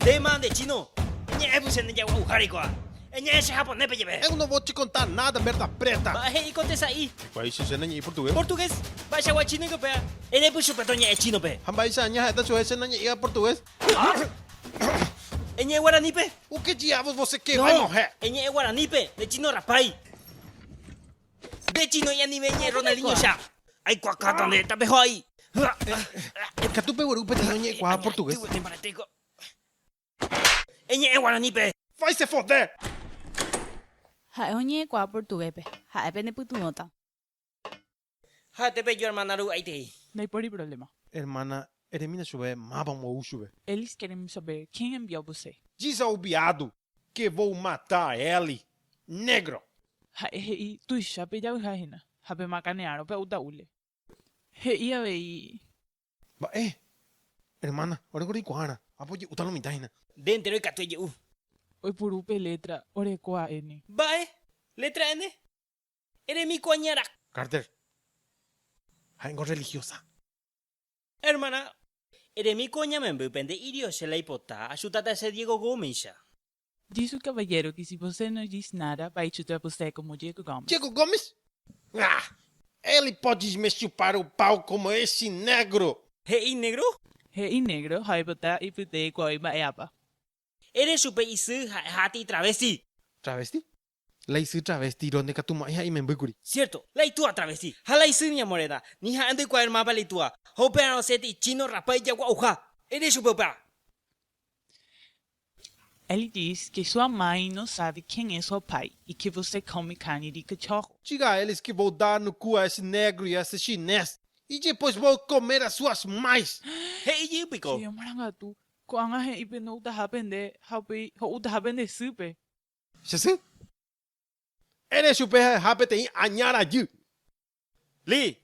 Téma nde chino, eñe'ẽ puse nde jagua'uha reikuaa. Eñe'ẽ che japonépe jeve. Eu no vo che contá nada merda preta. Mba'e he'i ko tesa'i. Mba'éicha che nañe'i portugués. Portugués. Mba'eichagua chinoiko péa. Erepy chupe toñe'ẽ chinope. Ha mba'éicha aña ha'éta chuhe che nañe'iga portugués. Eñe'ẽ guaranípe. Uke ji'avos voseke vai mo'hẽ. Eñe'ẽ guaranípe, nde chino rapái. Nde chino ñanime ñe'ẽ Ronaldinhocha. Aikuakáta nde tapejoai. Ikatu pegueru upe tino ñe'ẽkuaa portugués. Añañatýgui nembaretéko. Eñe'ẽ guaranípe. Vai se fode! Ha'e oñe'ẽkuaa portuguéspe. Ha'e pene pytyvõta. Ha'ete peju hermana ru'aitei. Ndaipóri problema. Hermana Eremína chupe, máva ombo'u chupe. Elis queremos saber, quién envió você? Diz ao veado que vou matar ele, negro! Ha'e he'i, Tuicha pejayha hína, ha pemakane'arõ pe auta'úle. He'i avei. Mba'e, hermana, oreko reikuaára, ápo oje'úta lo mitã hína. Nde entéro ikatu eje'u. Oipuru pe letra, oreko a N. Mba'e, letra N? Eremi ko añarakua. Carter, ha'éngo religiosa. Hermana, eremi ko ñamemby pende irio che la ipota achutata che Diego go umeicha. Dice un caballero que si você no diz nada va a chutar você como Diego Gomes. Diego Gomes? Nah! Ele pode me chupar o pau como esse negro! He'i negro? He'i negro ha oipota ipytei kuaái mba'e'ápa. Ere chupe isy ha'e ha aty travesti. Travesti? La isy travesti Ronde katu mo'ãi ha imembýkuri. Cierto, la itúa travesti ha la isy ña morena, ni ha'e ndoikuaáir mápa la itúa, ha upérõ osẽti ichino rapa ijagua'uha. Ere chupe upéva. Él dice que su amai no sabe quién es su apai y que você come carne de cachorro. Diga a eles que vou dar no cu a esse negro y a esse chinés y después vou comer a suas mães. He'i jey piko. Che amarangatu, ko'ág̃a he'i pende outaha pende ha upéi ho'utaha pende sýpe. Che sy. Ere chupe ha'eha peteĩ aña rajy. Li.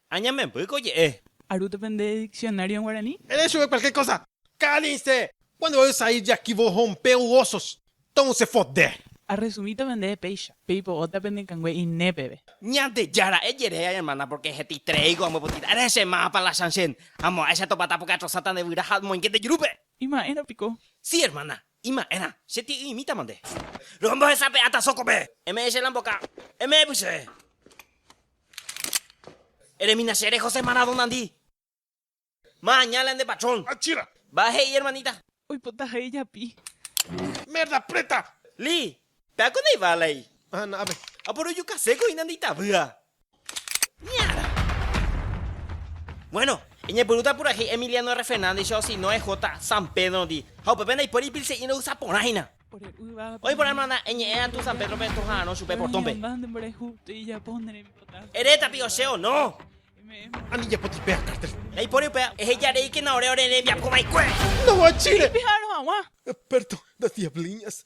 Añamemby ko je'e. Aru depende de diccionario en guaraní. Ere chupe cualquier cosa. Cállense! Cuando voy a usar ir de aquí vos rompeu osos. Ton se fode. A resumir depende de péicha. Peipo'o ta penekãngue ine peve. Ñandejára, ejerei a hermana porque hetitrei ko ambopotita. Ere che mávapa la chanchen. Amo'ãicha topata porque atrosáta nde vyra ha amoinge nde jurúpe. Ima'érõ piko. Sí, hermana. Ima'ẽrã, che ti'yimítama nde. Rombohesape'áta sókope. Eme'ẽ che lamboka. Eme'ẽpy che. Eremína che reho se Maradonandi. Ma añále ande patrón. Achira. Mba'e he'i ermanita. Oipota ha ijapi. Merda preta. Li, Peáko ndaiva lei. Aha, na'ápe. Aporojukaséko hína ndeitavýva. Ñara. Bueno, eñepyrũta purahéi Emiliano R. Fernández-icha osino EJ. San Pedro-ndi, ha upépe ndaipóri ipilse'i ndohasa porã hína. Oĩ porã hermana, eñe'ẽ atũ San Pedro-pe estoha'arõ chupe portón-pe. Ere tapiko che o no. Ani japoti péa cártel. Ndaipóri upéva, eheja reíkena ore ore rembiapo va'ekue. Ndoguachíre. Epérto das diabliñas.